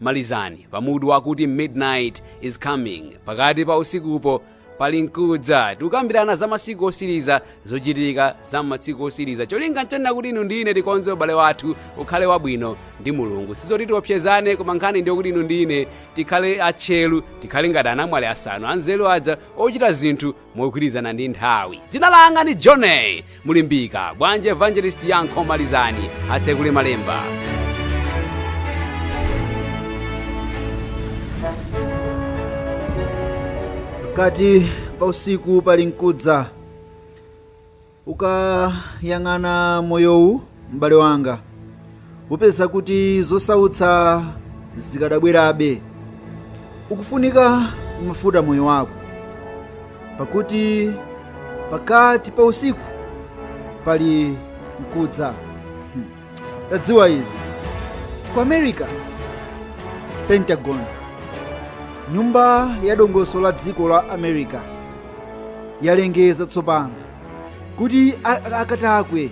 Malizani pamutu wakuti Midnight is Coming, pakati pa usiku pali nkudza tikukambirana za masiku osiriza zochitika za masiku osiriza cholinga nchonena kuti inu ndi ine tikonze ubale wathu ukhale wabwino ndi mulungu sizoti tiopsezane koma nkhani ndiyo kuti inu ndi ine tikhale atcheru tikhale ngati anamwali asanu anzeru aja ochita zinthu mogwirizana ndi nthawi dzina langa ndi johnny mulimbika bwanji evangelist yankho malizani atsekule malemba pakati pa usiku pali nkudza Ukayang'ana moyowu m'bale wanga, upeza kuti zosautsa zikadabwerabe. Ukufunika mafuta moyo wako, pakuti pakati pa usiku pali nkudza. tadziwa izi ku america pentagon nyumba ya dongoso la dziko la america yalengeza tsopano kuti a- a- akatswiri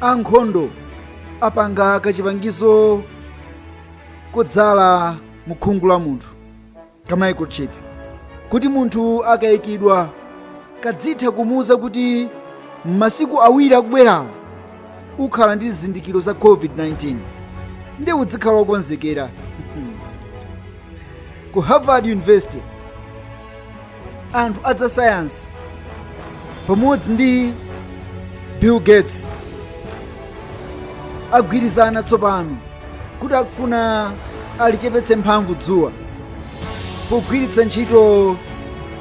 ankhondo apanga kachipangizo kodzala mukhungu la munthu ka microchip kuti munthu akayikidwa kazitha kumuwuza kuti m'masiku awiri akubwerawa ukhala ndi zizindikiro za covid-19 ndiye uzikhala wokonzekera ku harvard university anthu aza sayansi pamodzi ndi bill gates agwirizana tsopano kuti akufuna alichepetse mphamvu dzuwa pogwiritsa ntchito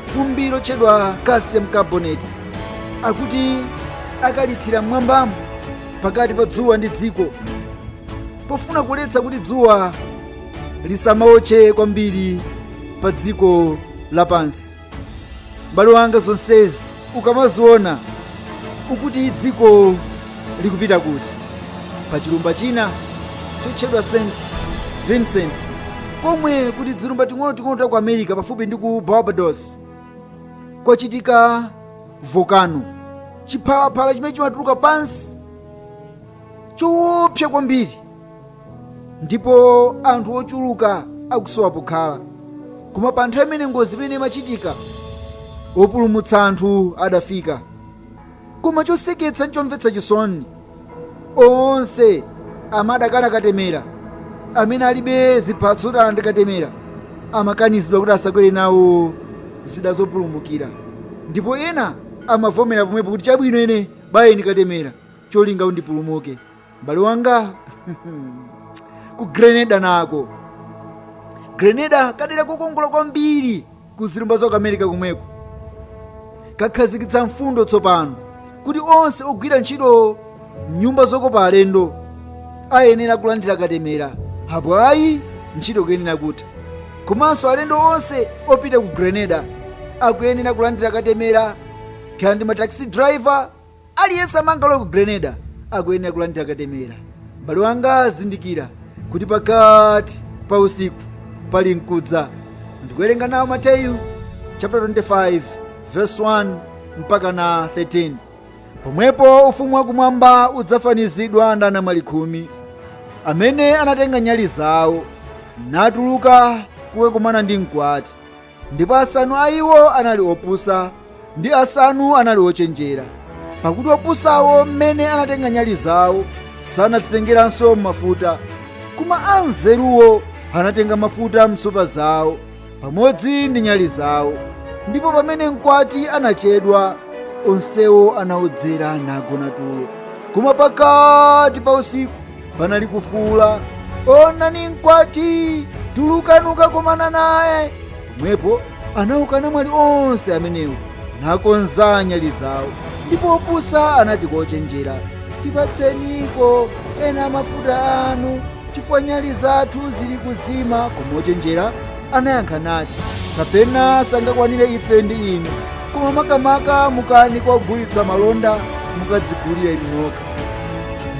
fumbi lotchedwa calcium carbonate akuti akalithira mmwambamo pakati pa dzuwa ndi dziko pofuna kuletsa kuti dzuwa lisamaotche kwambiri pa dziko lapansi m'bale wanga zonsezi ukamaziona ukuti dziko likupita kuti pa chilumba china chotchedwa st vincent komwe kuli tizilumba ting'onoting'ono ta ku america pafupi ndi ku barbados kwachitika volcano chiphalaphala chimene chimatuluka pansi choopsa kwambiri ndipo anthu ochuluka akusowa pokhala koma pa nthawi imene ngozi imeneyi imachitika opulumutsa anthu adafika koma choseketsa ndi chomvetsa chisoni onse amene adakana katemera amene alibe ziphatso kuti alandira katemera amakanizidwa kuti asakwere nawo zida zopulumukira ndipo ena amavomera pomwepo kuti chabwino ine bayeni katemera cholinga ndipulumuke m'bale wanga ku grenada nako grenada kadera kokongola kwambiri ku zilumba za ku america komweko kakhazikitsa mfundo tsopano kuti onse ogwira ntchito m'nyumba zokopa alendo ayenera kulandira katemera apo ayi ntchito kuyenera kutha komanso alendo onse opita ku grenada akuyenera kulandira katemera kaya ndi mataxi driver Aliyense amene angalowe ku Grenada akuyenera kulandira katemera. M'bale wanga zindikira kuti pakati pa usiku pali nkudza. Ndikuwerenga nawo Mateyu chapter 25 verse 1 mpaka na 13. Pomwepo ufumu wakumwamba udzafanizidwa ndi anamwali khumi amene anatenga nyali zawo natuluka kukakumana ndi mkwati. ndipo asanu a iwo anali opusa ndi asanu anali ochenjera pakuti opusawo mmene anatenga nyali zawo sanadzitengeranso mafuta koma anzeruwo anatenga mafuta m'nsupa zawo pamodzi ndi nyali zawo ndipo pamene mkwati anachedwa onsewo anaodzera nagona tulo koma pakati pa usiku panali kufuula onani mkwati tulukani kukakomana naye pomwepo anauka anamwali onse amenewo nakonza nyali zawo ndipo opusa anati kwa ochenjera tipatseniko ena mafuta anu chifukwa nyali zathu zili kuzima koma ochenjera anayankha nati kapena sangakwanire ife ndi inu koma makamaka mukani kwa ogulitsa malonda mukadzigulire inu nokha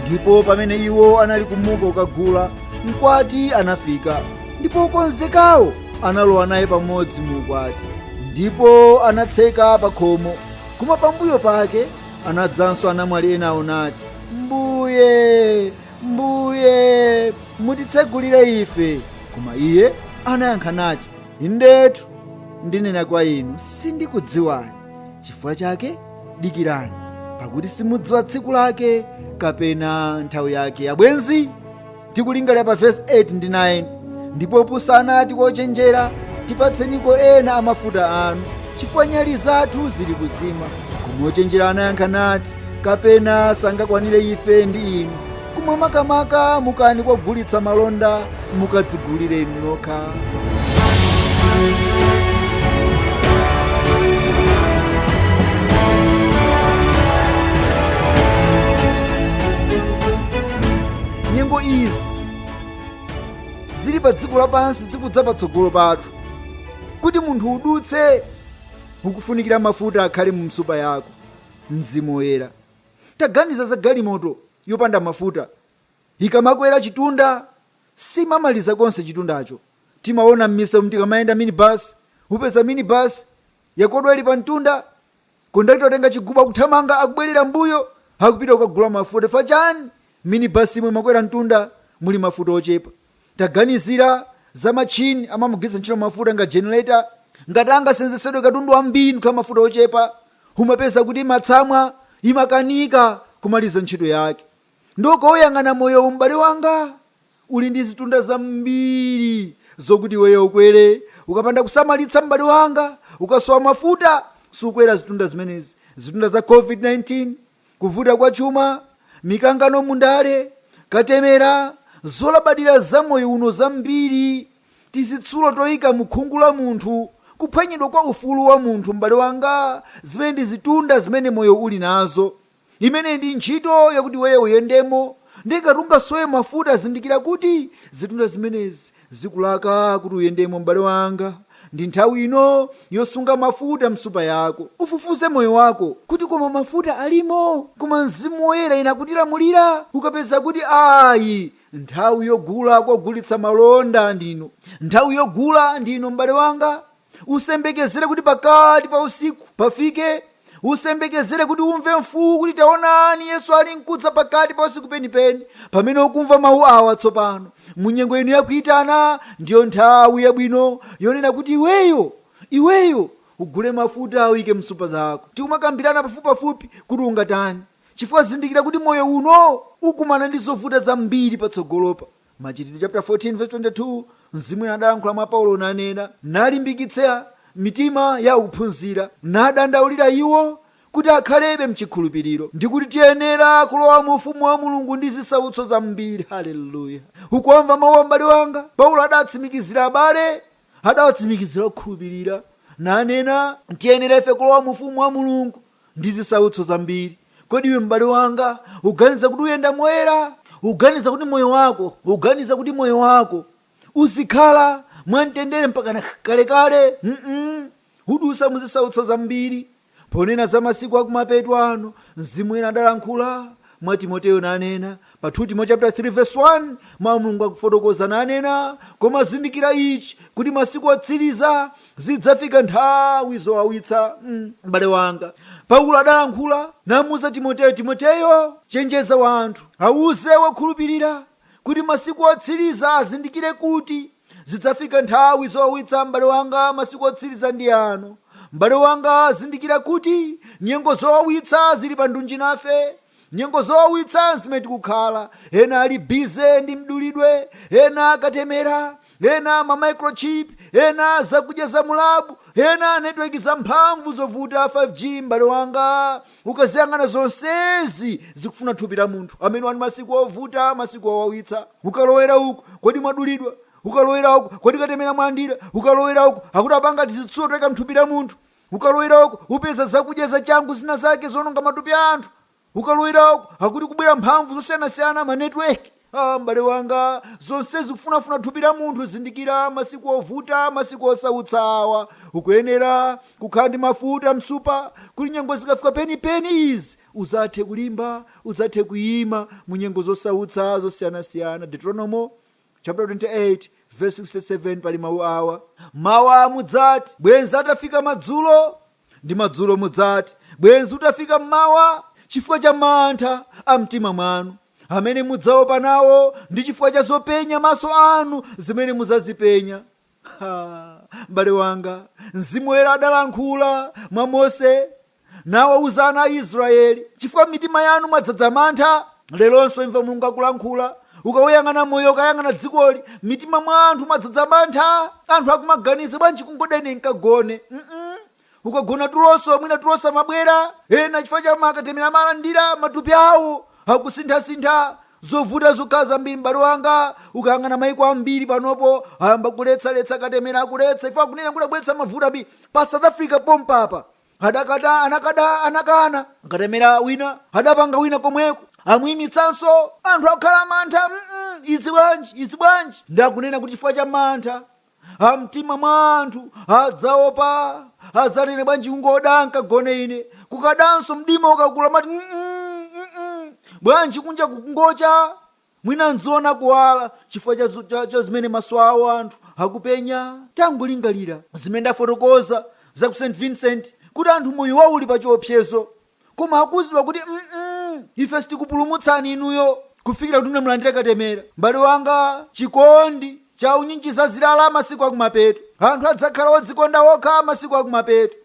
ndipo pamene iwo anali kumuka kukagula mkwati anafika ndipo okonzekawo analowa naye pamodzi mu ukwati ndipo anatseka pa khomo koma pambuyo pake anadzanso anamwali enawo nati mbuye mbuye mutitsegulire ife koma iye anayankha nati indetu ndinena kwa inu sindikudziwani chifukwa chake dikirani pakuti simudziwa tsiku lake kapena nthawi yake abwenzi tikulingalira pa vesi 8 ndi 9 ndipo opusa anati kwa ochenjera tipatseniko ena a mafuta anu chifukwa nyali zathu zili kuzima koma ochenjera anayankha nati kapena sangakwanire ife ndi inu koma makamaka mukani kwa ogulitsa malonda mukadzigulire inu nokha nyengo izi zili pa dziko lapansi zikudza patsogolo pathu kuti munthu udutse ukufunikira mafuta akhale mu nsupa yako mzimu woyera Taganiza za galimoto yopanda mafuta. Ikamakwera chitunda, simamaliza konse chitundacho. Timaona m'misewu tikamayenda minibus. Upeza minibus yakodwa ili pamtunda, kondakita watenga chigubu akuthamanga, akubwerera m'mbuyo, akupita kukagula mafuta. Chifukwa chani? Minibus imene imakwera mtunda muli mafuta ochepa. taganizira za matchini amamagwiritsa ntchito mafuta monga generator ngati angasenzetsedwe katundu wambiri nkukhala mafuta ochepa umapeza kuti imatsamwa imakanika kumaliza ntchito yake ndiye ukauyang'ana moyowu m'bale wanga uli ndi zitunda zambiri zokuti iweyo ukwere ukapanda kusamalitsa m'bale wanga ukasowa mafuta sukwera zitunda zimenezi zitunda za covid-19 Kuvuta kwa chuma, mikangano mu ndale, katemera, zolabadira za moyo uno zambiri, tizitsulo toyika mu khungu la munthu, kuphwanyidwa kwa ufulu wa munthu, m'bale wanga, zimenezi ndi zitunda zimene moyo uli nazo. Imeneyi ndi ntchito yakuti iweyo uyendemo, ndiye ngati ungasowe mafuta zindikira kuti zitunda zimenezi Zikulaka kuti uyendemo, m'bale wanga. Ndi nthawi ino yosunga mafuta m'nsupa yako. Ufufuze moyo wako kuti koma mafuta alimo, koma Mzimu Woyera akutilamulira. Ukapeza kuti ayi, nthawi yogula kogulitsa malonda ndi ino. Nthawi yogula ndi ino, m'bale wanga. usembekezere kuti pakati pa usiku pafike usembekezere kuti umve mfuwu kuti taonani yesu ali nkudza pakati pa usiku penipeni pamene ukumva mawu awa tsopano mu nyengo ino yakuyitana ndiyo nthawi yabwino yonena kuti iweyo iweyo ugule mafuta uyike msupa zako tikumakambirana pafupipafupi kuti ungatani chifukwa zindikira kuti moyo uno ukumana ndi zovuta zambiri patsogolopa Machitidwe chapter 14 verse 22 Mzimu Woyera adalankhula mwa Paulo nanena, nalimbikitsa mitima ya akuphunzira, nadandaulira iwo kuti akhalebe mchikhulupiriro, ndi kuti tiyenera kulowa mu ufumu wa Mulungu ndi zisautso zambiri. Haleluya! Ukuwamva mawuwa m'bale wanga? Paulo adatsimikizira abale, adawatsimikizira okhulupirira, nanena, tiyenera ife kulowa mu ufumu wa Mulungu. ndi zisautso zambiri. Kodi iwe m'bale wanga uganiza kuti uyenda moyera? Uganiza kuti moyo wako uganiza kuti moyo wako uzikhala mwamtendere mpakana kalekale? Mm-mm. Udusa mu zisautso zambiri. Ponena za masiku akumapeto ano, Mzimu Woyera adalankhula mwa Timoteyo nanena, Pa 2 Timo chapter 3 verse 1 mawu a mulungu akufotokoza nanena koma zindikira ichi kuti masiku otsiriza zidzafika nthawi zowawitsa mm, m'bale wanga paulo adalankhula namuuza timoteyo timoteyo chenjeza wanthu awuze wokhulupirira kuti masiku otsiriza azindikire kuti zidzafika nthawi zowawitsa m'bale wanga masiku otsiriza ndi ano m'bale wanga zindikira kuti nyengo zowawitsa zili pa ndunji nafe Nyengo zowawitsa nzimene tikukhala, ena ali busy ndi mdulidwe, ena katemera, ena ma microchip, ena zakudya za mu lab, ena network za mphamvu zovuta 5G m'bale wanga ukaziyang'ana zonsezi zikufuna thupi la munthu, amenewa ndi masiku ovuta masiku owawitsa, ukalowera uku kodi mwadulidwa, ukalowera uku kodi katemera mwalandira, ukalowera uku akuti apanga tizitsulo toika mthupi la munthu, Ukalowera uko, upeza zakudya zachangu zina zake zononga matupi a anthu. Ukalowera uko, akuti kubwera mphamvu zosiyanasiyana ma network. Ah, m'bale wanga, zonsezi zikufunafuna thupi la munthu. Zindikira masiku ovuta, masiku osautsawa. Ukuyenera kukhala ndi mafuta msupa, kuti nyengo zikafika penipeni izi udzathe kulimba, udzathe kuyima mu nyengo zosautsa zosiyanasiyana. Deuteronomo chaputala 28 vesi 67 pali mawu awa mawa mudzati bwenzi atafika madzulo ndi madzulo mudzati bwenzi utafika mmawa chifukwa cha mantha a mtima mwanu amene mudzaopa nawo ndi chifukwa cha zopenya maso anu zimene mudzazipenya Ha! M'bale wanga, Mzimu Woyera adalankhula mwa Mose nawauza ana a Israyeli, chifukwa mitima yanu mwadzadza mantha. Leronso imva Mulungu akulankhula. Ukauyang'ana moyo, ukayang'ana dzikoli, mmitima mwa anthu mwadzadza mantha. Anthu akumaganiza bwanji kungoda ine nkagone? Mm-mm. ukagona tulonso mwina tulo samabwera ena chifukwa cha makatemera amalandira matupi awo akusinthasintha zovuta zokha zambiri m'bale wanga ukayang'ana maiko ambiri panopo ayamba kuletsaletsa katemera akuletsa iwo akunena kuti akubweretsa mavuto ambiri pa south africa pompapa adakata anakada anakana katemera wina adapanga wina komweko amuyimitsanso anthu akukhala mantha mm izi bwanji izi bwanji ndakunena kuti chifukwa cha mantha amtima mwa anthu adzaopa adzanene bwanji kungoda nkagone ine kukadanso mdima ukakula amati "Mm, mm, mm, mm." bwanji kunja kungocha mwina ndziona kuwala chifukwa cha zu- cha- cha zimene maso awo anthu akupenya tangolingalira zimene ndafotokoza za ku st vincent kuti anthu moyo wawo uli pa chiopsezo koma akuuzidwa kuti mm ife sitikupulumutsani inuyo kufikira kuti munamulandira katemera m'bale wanga chikondi cha unyinji chazirala masiku akumapeto anthu adzakhala odzikonda okha masiku akumapeto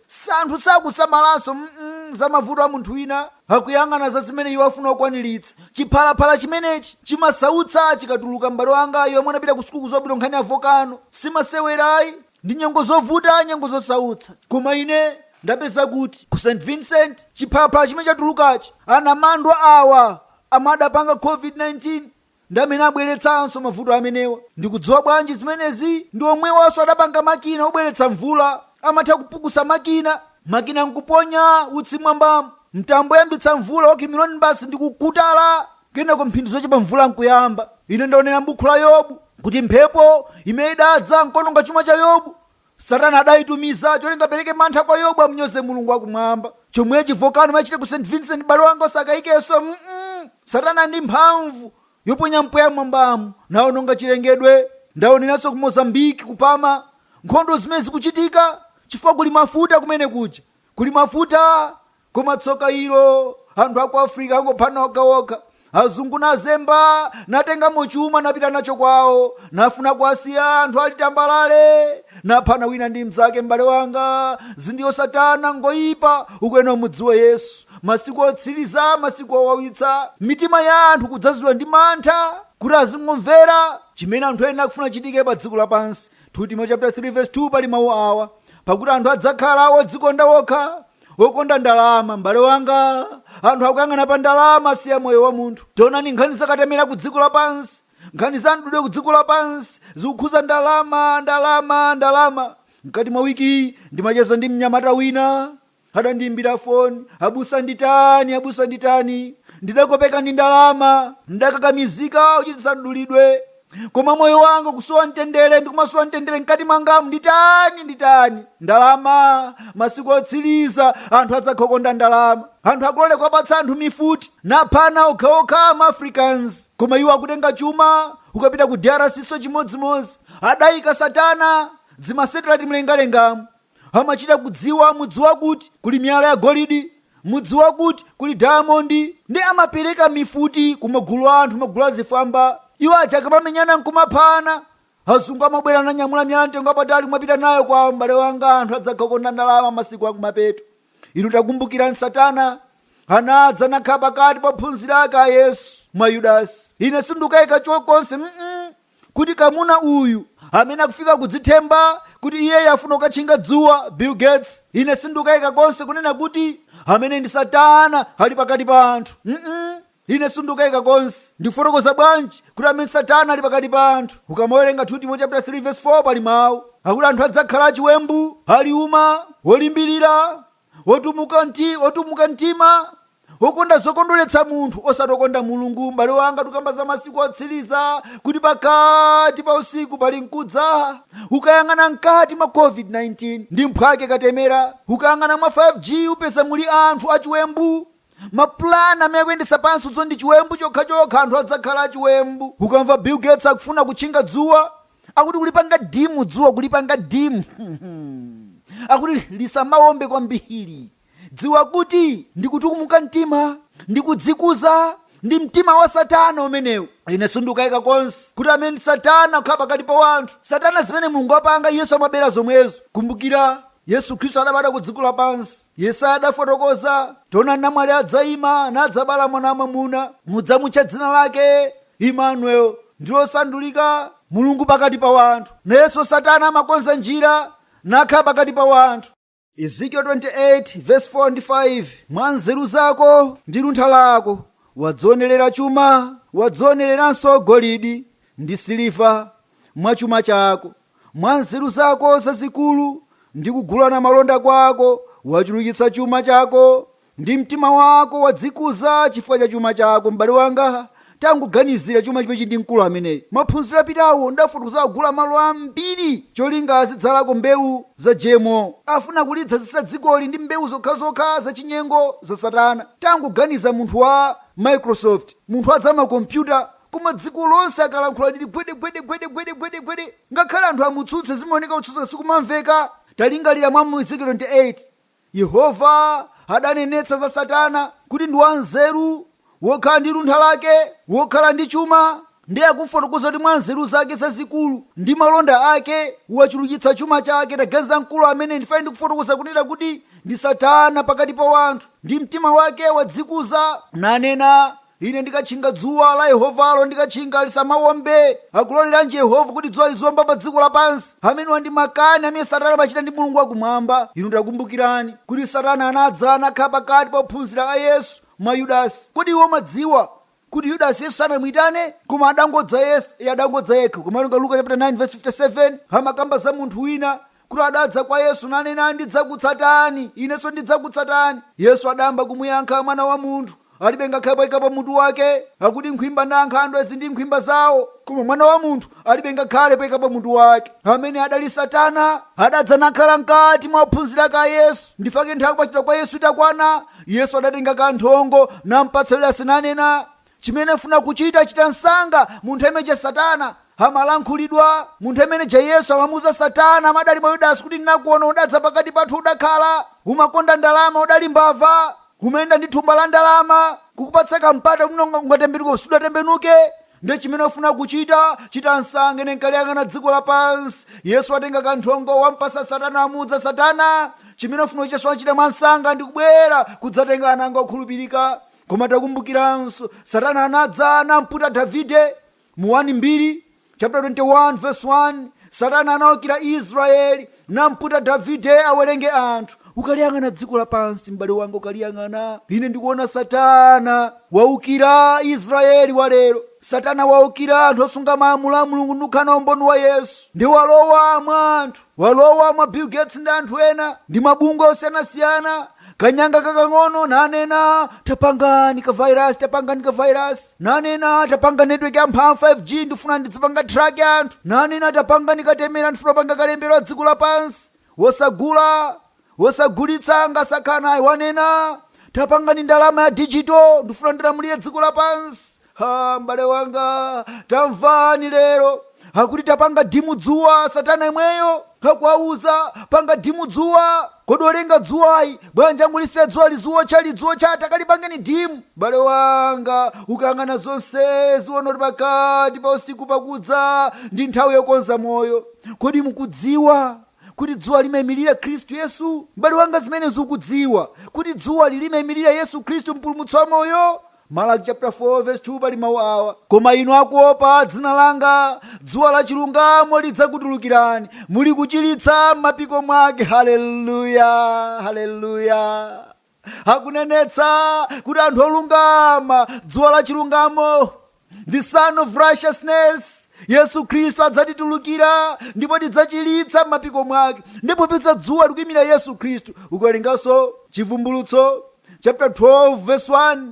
anthu sakusamalanso mm za mavuto a munthu wina akuyang'ana za zimene iwo afuna kukwaniritsa chiphalaphala chimenechi chimasautsa chikatuluka m'bale wanga iwo amene anapita ku sukulu bwinobwino nkhani ya vokano simasewerayi ndi nyengo zovuta, nyengo zosautsa. Koma ine ndapeza kuti ku St. Vincent chiphalaphala chimene chatulukachi, anamandwa awa amene adapanga COVID-19 ndi amene abweretsanso mavuto amenewa. Ndikudziwa bwanji zimenezi? Ndi omwewanso adapanga makina obweretsa mvula, amatha kupukusa makina, makina n'kuponya utsi m'mwambamu, mtambo oyambitsa mvula wa cumulonimbus ndi kukhuthala Kenako mphindi zochepa mvula nkuyamba. Ine ndaonera m'buku la Yobu kuti mphepo imene idadza nkononga chuma cha Yobu. Satana adayitumiza cholinga apereke mantha kwa Yobu amnyoze Mulungu wakumwamba. Chomwechi vokano imachita ku St. Vincent m'bale wanga osakayikanso. Mm-mm. Satana ndi mphamvu yoponya mpweya mwambamu naononga chilengedwe. Ndaoneranso ku Mozambique ku Palma nkhondo zimene zikuchitika chifukwa kuli mafuta kumene kuja. Kuli mafuta Koma tsoka ilo, anthu a ku Africa angophana okhaokha. Azungu nazemba, natengamo chuma napita nacho kwawo, nafuna kuwasiya anthu ali tambalale, naphana wina ndi mnzake. M'bale wanga, zedi iye Satana, ngoyipa. Ukuyenera umudziwe Yesu. Masiku otsiriza, masiku owawitsa. Mitima ya anthu kudzazidwa ndi mantha, kuti azingomvera chimene anthu ena akufuna chichitike pa dziko lapansi. 2 Timoteo chapter 3 verse 2 pali mawu awa, pakuti anthu adzakhala odzikonda okha, okonda ndalama m'bale wanga anthu akuyang'ana pa ndalama siya moyo wa munthu taonani nkhani za katemera ku dziko lapansi nkhani za mdulidwe ku dziko lapansi zikukhuza ndalama ndalama ndalama mkati mwa wiki ndimacheza ndi mnyamata wina adandiimbira foni abusa nditani abusa nditani ndidakopeka ndi ndalama ndidakakamizika kuchititsa mdulidwe koma moyo wanga ukusowa mtendere ndikumasowa mtendere mkati mwangamu nditani nditani ndalama masiku otsiriza anthu adzakhala okonda ndalama anthu akulolera kuwapatsa anthu mifuti naphana okhaokha ma africans koma iwo akutenga chuma ukapita ku drc nso chimodzimodzi adayika satana zimasatelaiti mlengalengamu amachita kudziwa mudzi wakuti kuli miyala ya golidi mudzi wakuti kuli diamondi ndi amapereka mifuti ku magulu a anthu magulu achifwamba iwo aja akamamenyana nkumaphana azungu amabwera nanyamula miyala yamtengo wapatali kumapita nayo kwawo m'bale wanga anthu adzakhala okonda ndalama masiku akumapeto inu takumbukirani satana anadza nakhala pakati pa ophunzira ake a yesu mwa yudasi ine sindikukayika chokonse mm kuti kamuna uyu amene akufika kudzithemba kuti iyeyo afuna kukatchinga dzuwa bill gates ine sindikayika konse kunena kuti amene ndi satana ali pakati pa anthu mm ine sindikayika konse ndikufotokoza bwanji kuti amene satana ali pakati pa anthu ukamawerenga 2 timo chapter 3 verse 4 pali mawu akuti anthu adzakhala achiwembu aliuma olimbirira otumuka mti otumuka mtima okonda zokondweretsa munthu osati okonda mulungu m'bale wanga tukamba za masiku otsiriza kuti pakati pa usiku pali mkudza ukayang'ana mkati mwa covid-19 ndi mphwake katemera ukayang'ana mwa 5g upeza muli anthu achiwembu mapulani amene akuyendetsa pansi uzo ndi chiwembu chokhachokha anthu adzakhala achiwembu ukamva bill gates akufuna kutchinga dzuwa akuti kulipanga dimu dzuwa kulipanga dimu akuti lisamawombe kwambiri dziwa kuti ndikutukumuka mtima ndikudzikuza ndi mtima wa satana umenewu ine sindikayika konse kuti amene satana kukhala pakati pa wanthu satana zimene mulungu wapanga yesu amabera zomwezo kumbukira yesu khristu adabadwa ku dziko lapansi yesaya adafotokoza taona namwali adzayima nadzabala mwana wamwamuna mudzamutcha dzina lake Immanuel, ndi losandulika, Mulungu pakati pa wanthu. Nayenso Satana amakonza njira nakhala pakati pa wanthu. Ezekiel 28 vs 4 ndi 5, Mwa nzeru zako ndi luntha lako wadzionerera chuma, wadzionereranso golidi ndi siliva mwa chuma chako, mwa nzeru zako zazikulu ndi kugulana malonda kwako wachulukitsa chuma chako Ndi mtima wako wadzikuza chifukwa cha chuma chako, m'bale wanga. Tangoganizira chuma chimechi ndi mkulu ameneyi. Maphunziro apitawo ndafotokoza agula malo ambiri cholinga azidzalako mbewu za GMO. Afuna kulidzazitsa dzikoli ndi mbewu zokhazokha zachinyengo za Satana. Tangoganiza munthu wa Microsoft, munthu wa zamakompyuta, koma dziko lonse akalankhula lili gwede gwede gwede gwede gwede gwede. Ngakhale anthu amutsutse zimaoneka kutsutsa sikumamveka. Talingalira mwa mu Ezekiel 28. Yehova adanenetsa za Satana kuti ndi wanzeru, wokhala ndi luntha lake, wokhala ndi chuma, ndiye akufotokoza kuti mwa nzeru zake zazikulu ndi malonda ake wachulukitsa chuma chake. Taganiza mkulu amene ndifuna ndikufotokoza kunena kuti ndi Satana pakati pa wanthu, ndi mtima wake wadzikuza, nanena, Ine ndikatchinga dzuwa la Yehovalo, ndikatchinga lisamawombe. Akuloleranji Yehova kuti dzuwa liziwomba pa dziko lapansi? Amenewa ndi makani amene Satana amachita ndi Mulungu wakumwamba. Inu takumbukirani kuti Satana anadza nakhala pakati pa ophunzira a Yesu mwa Yudasi. Kodi inu mmadziwa kuti Yudasi Yesu sanamuitane? Koma adangodzayesa, iye adangodza yekha. Ukamawerenga Luka chapter 9 verse 57, amakamba za munthu wina kuti adadza kwa Yesu nanena, Ndidzakutsatani, inenso ndidzakutsatani. Yesu adayamba kumuyankha, Mwana wa Munthu alibe ngakhale poika pa mutu wake. Akuti nkhwimba ndi ankhandwe zili ndi nkhwimba zawo, koma Mwana wa Munthu alibe ngakhale poika pa mutu wake. Amene adali Satana adadza nakhala mkati mwa ophunzira ake a Yesu. N'chifukwa chake nthawi kupachikidwa kwa Yesu itakwana, Yesu adatenga kanthongo nampatsa Yudasi nanena, Chimene ufuna kuchita, chita msanga. Munthu ameneuja satana amalankhulidwa. Munthu ameneuja Yesu amamuuza satana amadali mwa Yudasi kuti ndinakuona udadza pakati pathu udakhala. Umakonda ndalama udali mbava. Umayenda ndi thumba la ndalama. Kukupatsa ka mpata kuti unga- ungatembenuke sudatembenuke. Nde chimene ufuna kuchita, chita msanga. Ine nkaliyang'ana dziko lapansi. Yesu watenga kanthongo wampasa satana amuudza satana. Chimene ufuna uchita sumachita mwa msanga ndikubwera kudzatenga ana anga okhulupirika. Koma takumbukiranso, Satana anadza namputa Davide mu 1 Mbiri chaputala 21 vesi 1. Satana anaukira Israyeli namputa Davide awerenge anthu. Ukaliyang'ana dziko lapansi, m'bale wanga, ukaliyang'ana, ine ndikuona Satana waukira Israyeli wa lero. Satana waukira anthu osunga malamulo a Mulungu ndikukhala na umboni wa Yesu, ndi walowa mwa anthu. Walowa mwa Bill Gates ndi anthu ena ndi mabungwe osiyanasiyana, kanyanga kakang'ono, nanena, Tapangani ka virus, tapangani ka virus, nanena, Tapanga network ya mphamvu 5G, ndifuna ndidzipanga track anthu, nanena, Tapangani katemera, ndifuna kupanga kalembera wa dziko lapansi, wosagula, osagulitsa ngati sakhala nayi wanena tapangani ndalama ya digital ndifuna ndilamulire dziko lapansi ha m'bale wanga tamvani lero akuti tapanga dimu dzuwa satana imweyo akuwauza panga dimu dzuwa kodi olenga dzuwayo bwanji wangolisiya dzuwa liziwotcha lidziwotcha takalipangeni dimu m'bale wanga ukayang'ana zonsezi uona kuti pakati pa usiku pakudza ndi nthawi yokonza moyo kodi mukudziwa kuti dzuwa limaimirira Khristu Yesu? M'bale wanga, zimenezi ukudziwa, kuti dzuwali limaimirira Yesu Khristu, Mpulumutsi wa moyo. Malaki chaputala 4 vesi 2 pali mawu awa, koma inu akuopa dzina langa, dzuwa la chilungamo lidzakutulukirani, muli kuchiritsa m'mapiko mwake. Haleluya! Haleluya! akunenetsa kuti anthu olungama dzuwa la chilungamo the sun of righteousness yesu khristu adzatitulukira ndipo tidzachiritsa m'mapiko mwake ndipo popeza dzuwa likuyimira yesu khristu ukawerenganso chivumbulutso chapter 12 verse 1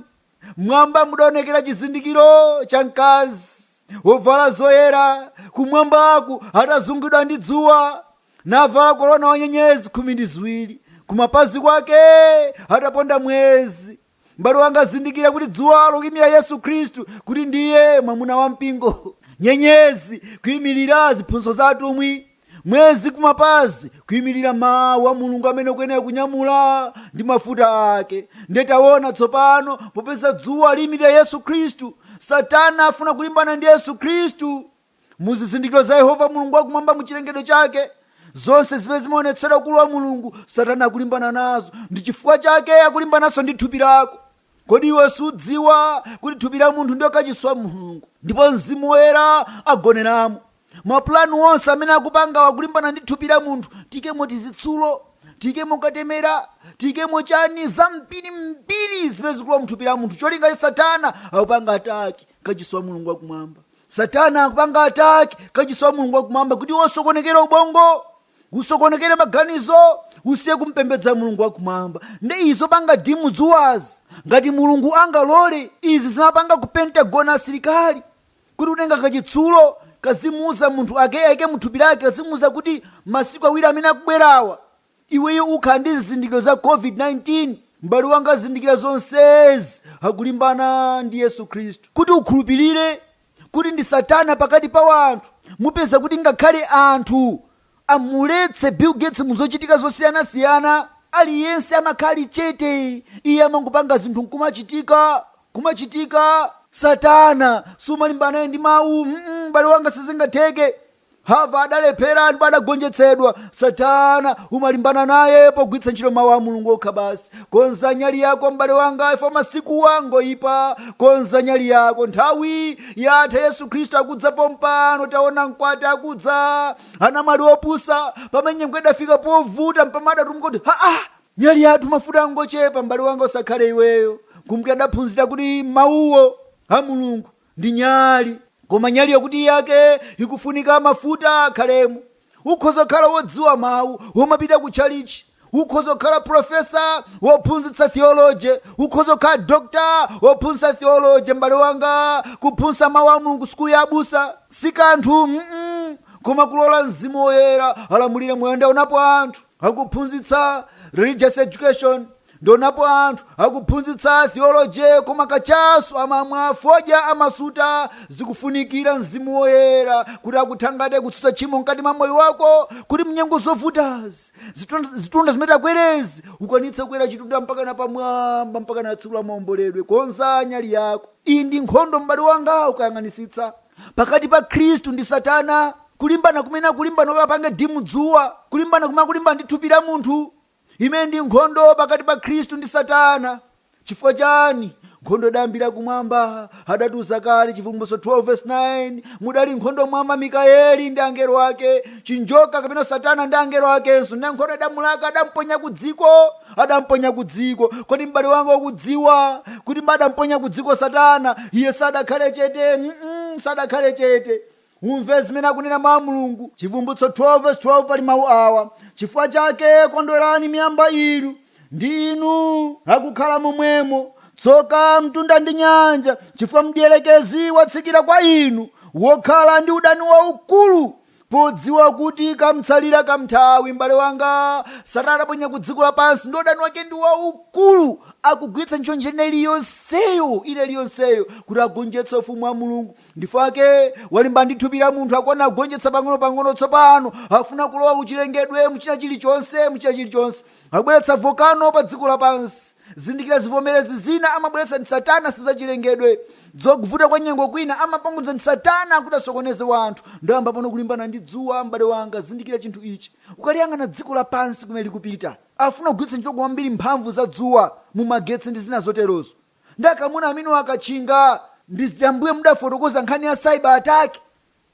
M'mwamba mudaonekera chizindikiro cha mkazi wovala zoyera kumwambaku atazingidwa ndi dzuwa navala korona wa nyenyezi khumi ndi ziwiri kumapazi kwake ataponda mwezi. M'bale wanga zindikira kuti dzuwa likuimira Yesu Khristu kuti ndiye mwamuna wa mpingo. Nyenyezi kuimirira ziphunzitso za atumwi. mwezi kumapazi kuyimirira mawu a mulungu amene ukuyenera kunyamula ndi mafuta ake ndiye taona tsopano popeza dzuwa liyimirira yesu khristu satana afuna kulimbana ndi yesu khristu mu zizindikiro za yehova mulungu wakumwamba mu chilengedwe chake zonse zimene zimaonetsera ukulu wa mulungu satana akulimbana nazo ndi chifukwa chake akulimbananso ndi thupi lako kodi iwe sudziwa kuti thupi la munthu ndiyo kachisi wa mulungu ndipo mzimu woyera agoneramo maplan onse amene akupangawa akulimbana ndi thupi la munthu tiikemo tizitsulo tiikemo katemera tiikemo chani zambiri mbiri zimene zikulowa mthupi la munthu cholinga cha satana akupanga ataki kachisi wa mulungu wakumwamba satana akupanga ataki kachisi wa mulungu wakumwamba kuti usokonekere ubongo usokonekere maganizo usiye kumpembedza mulungu wakumwamba ndi izi zopanga dimu dzuwazi ngati mulungu angalole izi zimapanga ku pentagon asilikali kuti utenga kachitsulo kazimuuza munthu akaike muthupi lake kazimuuza kuti masiku awiri amene akubwerawa iweyo ukhala ndi zizindikiro za covid-19 m'bale wanga zindikira zonsezi akulimbana ndi yesu khristu kuti ukhulupirire kuti ndi satana pakati pa anthu mupeza kuti ngakhale anthu amuletse bill gates muzochitika zosiyana siyana aliyense amakhala ali chete iye amangopanga zinthu kumachitika kumachitika satana sumalimbana naye ndi mawu Mm-mm, m'bale wanga sizingatheke hava adalephera ndipo adagonjetsedwa satana umalimbana naye pogwiritsa ntchito mawu a mulungu okha basi Konza nyali yako m'bale wanga ife pa masikuwa ngoyipa konza nyali yako nthawi yatha yesu khristu akudza pompano taona mkwati akudza anamwali opusa pamene nyengo idafika povuta mpama adatumuka kuti haa nyali yathu mafuta angochepa m'bale wanga usakhale iweyo kumti adaphunzira kuti mawuwo a mulungu ndi nyali koma nyali yakuti yake ikufunika mafuta akhalemo ukhoza kukhala wodziwa mawu womapita ku tchalichi ukhoza kukhala profesa wophunzitsa theology ukhoza kukhala dokta wophunzitsa theology m'bale wanga kuphunzitsa mawu a mulungu sukulu ya abusa si kanthu mm koma kulola mzimu woyera alamulire moyo ndaonapo anthu akuphunzitsa religious education ndaonapo anthu akuphunzitsa theology koma kachasu amamwa fodya amasuta zikufunikira mzimu woyera kuti akuthangate kutsutsa tchimo mkati mwa moyo wako kuti mnyengo zovutazi zitunda- zitunda zimene takwerezi ukwanitse kukwera chitunda mpaka na pamwamba mpaka na tsiku la maomboledwe konza nyali yako iyi ndi nkhondo m'bale wanga ukayang'anisitsa pakati pa khristu ndi satana kulimbana kumene akulimbana kuti apange dim dzuwa kulimbana kumene akulimbana ndi thupi la munthu imene ndi nkhondo pakati pa khristu ndi satana chifukwa chani nkhondo idayambira kumwamba adatiuza kale chivumbulutso 12 verse 9 mudali nkhondo m'mwamba mikayeli ndi angelo ake chinjoka kapena satana ndi angelo akenso ndi nkhondo idamulaka adamponya ku dziko adamponya ku dziko kodi m'bale wanga ukudziwa kuti atamponya ku dziko satana iye sadakhale chete mm sadakhale chete umve zimene akunena mawu a mulungu chivumbulutso 12 verse 12 pali mawu awa chifukwa chake kondwerani miyamba inu ndi inu akukhala momwemo tsoka mtunda ndi nyanja chifukwa mdierekezi watsikira kwa inu wokhala ndi udani waukulu Podziwa kuti kamtsalira kanthawi m'bale wanga Satana atamponya ku dziko lapansi ndi udani wake ndi waukulu, akugwiritsa ntchito njira ina iliyonseyo ina iliyonseyo kuti agonjetse ufumu wa Mulungu. Ndifake walimbana ndi thupi la munthu akuona agonjetsa pang'onopang'ono tsopano, afuna kulowa kuchilengedwe mu china chilichonse mu china chilichonse. akubweretsa volcano pa dziko lapansi zindikira zivomerezi zina amabweretsa ndi satana sizachilengedwe zokuvuta kwa nyengo kwina amapangitsa ndi satana kuti asokoneze wanthu ndiye wayamba pano kulimbana ndi dzuwa m'bale wanga zindikira chinthu ichi ukaliyang'ana dziko lapansi kumene likupita afuna kugwiritsa ntchito kwambiri mphamvu za dzuwa mu magetsi ndi zina zoterozo ndiye akamuna amenewa akatchinga ndiye zija m'mbuye ndidafotokoza nkhani ya cyber attack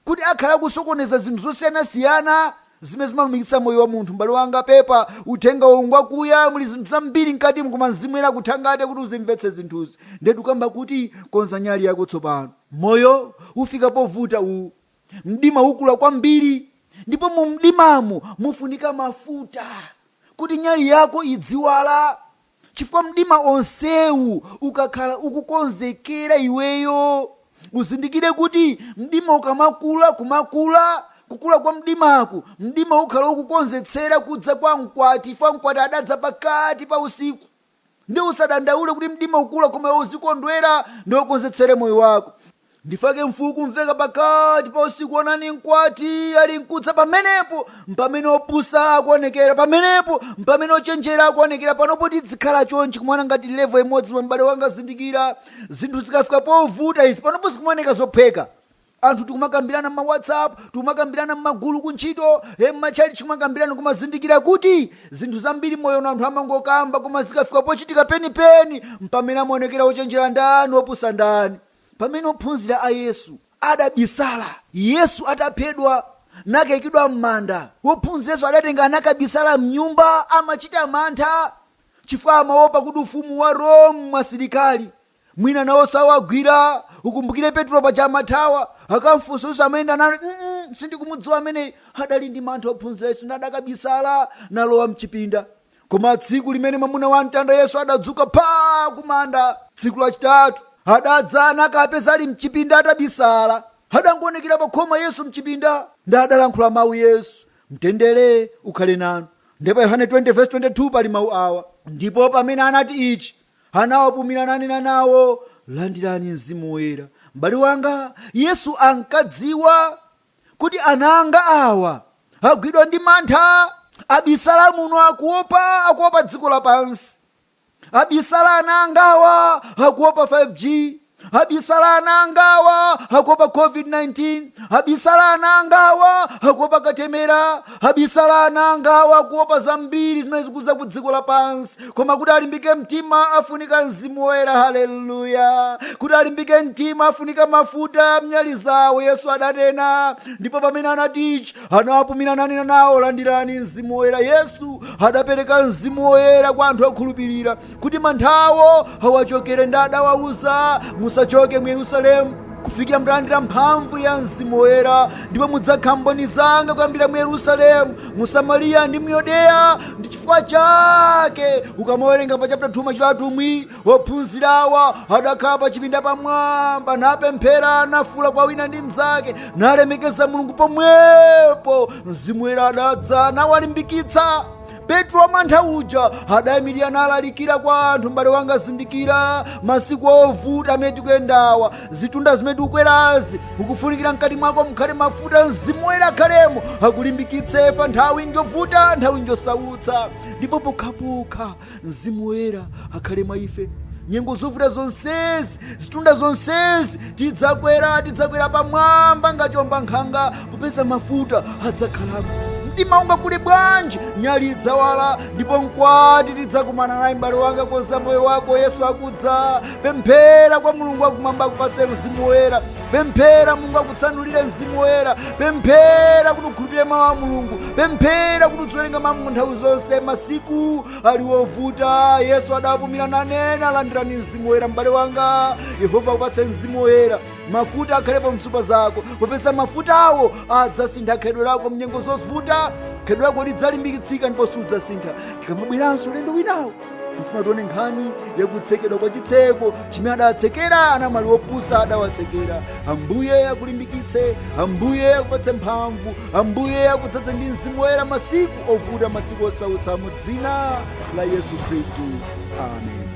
kuti akhala akusokoneza zinthu zosiyanasiyana zimene zimalumikitsa moyo wa munthu? M'bale wanga, pepa. Uthenga uwu ngwakuya. Muli zinthu zambiri mkatimo, koma Mzimu Woyera akuthangate kuti uzimvetse zinthuzi. Ndiye tikukamba kuti, Konza nyali yako tsopano. Moyo ufika povuta. U, mdima ukula kwambiri. Ndipo mu mdimamo mufunika mafuta kuti nyali yako idziwala. Chifukwa mdima onsewu ukakhala ukukonzekera iweyo uzindikire kuti mdima ukamakula kumakula kukula kwa mdimaku mdima ukhala ukukonzetsera kudza kwa mkwati chifukwa mkwati adadza pakati pa usiku nde usadandaule kuti mdima ukula koma uzikondwera nde ukonzetsere moyo wako ndifake mfuu kumveka pakati pa usiku onani mkwati ali mkudza pamenepo mpamene opusa akuonekera pamenepo mpamene ochenjera akuonekera panopo tidzikhala chonchi kumaoneka ngati level imodzi koma m'bale wanga zindikira zinthu zikafika povuta izi panopo zikumaoneka zophweka anthu tikumakambirana mma whatsapp tikumakambirana mmagulu kuntchito e mmatchalichi kumakambirana kumazindikira kuti zinthu zambiri moyo na anthu amangokamba koma zikafika pochitika penipeni mpamene amaonekera ochenjera ndani opusa ndani pamene ophunzira a Yesu adabisala Yesu ataphedwa nakaikidwa m'manda, ophunzira Yesu adatenga nakabisala m'nyumba, amachita mantha chifukwa amaopa kuti ufumu wa Rome, asilikali mwina nawonso awagwira. Ukumbukire Petro paja amathawa, akamfunsa Yesu amayenda naye, mm -mm, sindikumudziwa ameneyo. Adali ndi mantha ophunzira Yesu ndi adakabisala nalowa mchipinda koma tsiku limene mwamuna wa mtanda yesu adadzuka pa kumanda tsiku lachitatu adadza nakapeza ali mchipinda atabisala adangoonekera pa khoma yesu mchipinda ndi adalankhula mawu yesu mtendere ukhale nanu ndipo yohane 20:22 pali mawu awa ndipo pamene anati ichi anawapumira nanena nawo landirani mzimu woyera m'bale wanga yesu ankadziwa kuti ana anga awa agwidwa ndi mantha, abisala muno akuopa, akuopa dziko lapansi, abisala ana angawa akuopa 5G, abisala ana angawa akuopa COVID-19, abisala ana angawa akuopa katemera, Abisala ana angawa akuopa zambiri zimene zikudza ku dziko lapansi koma kuti alimbike mtima afunika mzimu woyera haleluya kuti alimbike mtima afunika mafuta mnyali zawo yesu adanena ndipo pamene anati ichi anawapumira nanena nawo landirani mzimu woyera yesu adapereka mzimu woyera kwa anthu okhulupirira kuti manthawo awachokere ndi adawauza musachoke mu yerusalemu kufikira mutalandira mphamvu ya mzimu woyera ndipo mudzakhala mboni zanga kuyambira mu yerusalemu mu samariya ndi mu yudeya ndi chifukwa chake ukamawerenga pa chapter 2 machitidwe a atumwi ophunzirawa adakhala pa chipinda pamwamba napemphera nafuula kwa wina ndi mnzake nalemekeza mulungu pomwepo mzimu woyera adadza nawalimbikitsa petro wamantha uja adayimirira nalalikira kwa anthu m'bale wanga zindikira masiku ovuta amene tikuyendawa zitunda zimene tikukwerazi ukufunikira mkati mwako mukhale mafuta mzimu woyera akhalemo akulimbikitse ife nthawi njovuta nthawi njosautsa ndipo pokhapokha mzimu woyera akhale mwa ife nyengo zovuta zonsezi zitunda zonsezi tidzakwera tidzakwera pamwamba nga chombankhanga popeza mafuta adzakhalamo mdima ungakule bwanji nyali idzawala ndipo mkwati tidzakumana naye m'bale wanga konza moyo wako yesu akudza pemphera kwa mulungu wakumwamba akupatse mzimu woyera pemphera mulungu akutsanulire mzimu woyera pemphera kuti ukhulupirire mawu a mulungu pemphera kuti udziwerenga mawu a mulungu nthawi zonse masiku ali wovuta yesu adawapumira nanena landirani mzimu woyera m'bale wanga yehova akupatse mzimu woyera mafuta akhalepo m'nsupa zako popeza mafutawo adzasintha khalidwe lako mnyengo zovuta khalidwe lako lidzalimbikitsika ndipo sudzasintha tikamabweranso ulendo winawo tifuna tione nkhani yakutsekedwa kwa chitseko chimene adawatsekera anamwali opusa adawatsekera ambuye akulimbikitse ambuye akupatse mphamvu ambuye akudzadze ndi mzimu woyera masiku ovuta masiku osautsa mu dzina la yesu khristu amen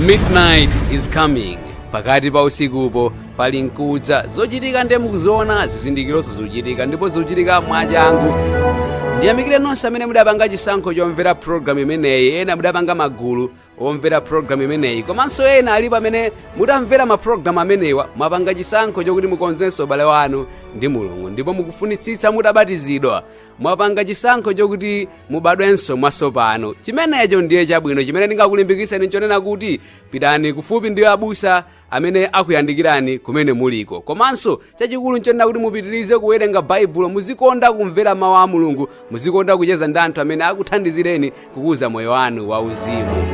Midnight is coming. Pakati pa usikupo pali nkudza zochitika ndiye mukuziona zizindikironso zichitika ndipo zichitika mwachangu ndiyamikire nonse amene mudapanga chisankho chomvera programu imeneyi ena mudapanga magulu omvera programu imeneyi komanso ena alipo amene mutamvera maprogramu amenewa mwapanga chisankho chokuti mukonzenso ubale wanu ndi mulungu ndipo mukufunitsitsa mutabatizidwa mwapanga chisankho chokuti mubadwenso mwatsopano chimenecho ndiye chabwino chimene ndingakulimbikitseni nchonena kuti pitani kufupi ndi abusa amene akuyandikirani kumene muliko komanso chachikulu nchonena kuti mupitirize kuwerenga baibulo muzikonda kumvera mawu a mulungu muzikonda kucheza ndi anthu amene akuthandizireni kukuza moyo wanu wauzimu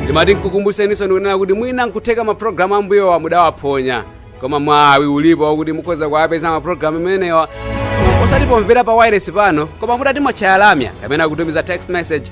ndimati nkukumbuseninso ndikunena kuti mwina nkutheka mapulogalamu ambuyowa mudawaphonya koma mwawi ulipo wakuti mukhoza kuwapeza mapulogalamu amenewa osati pomvera pa wailesi pano koma mutati mwatchaya lamya kapena kutumiza text message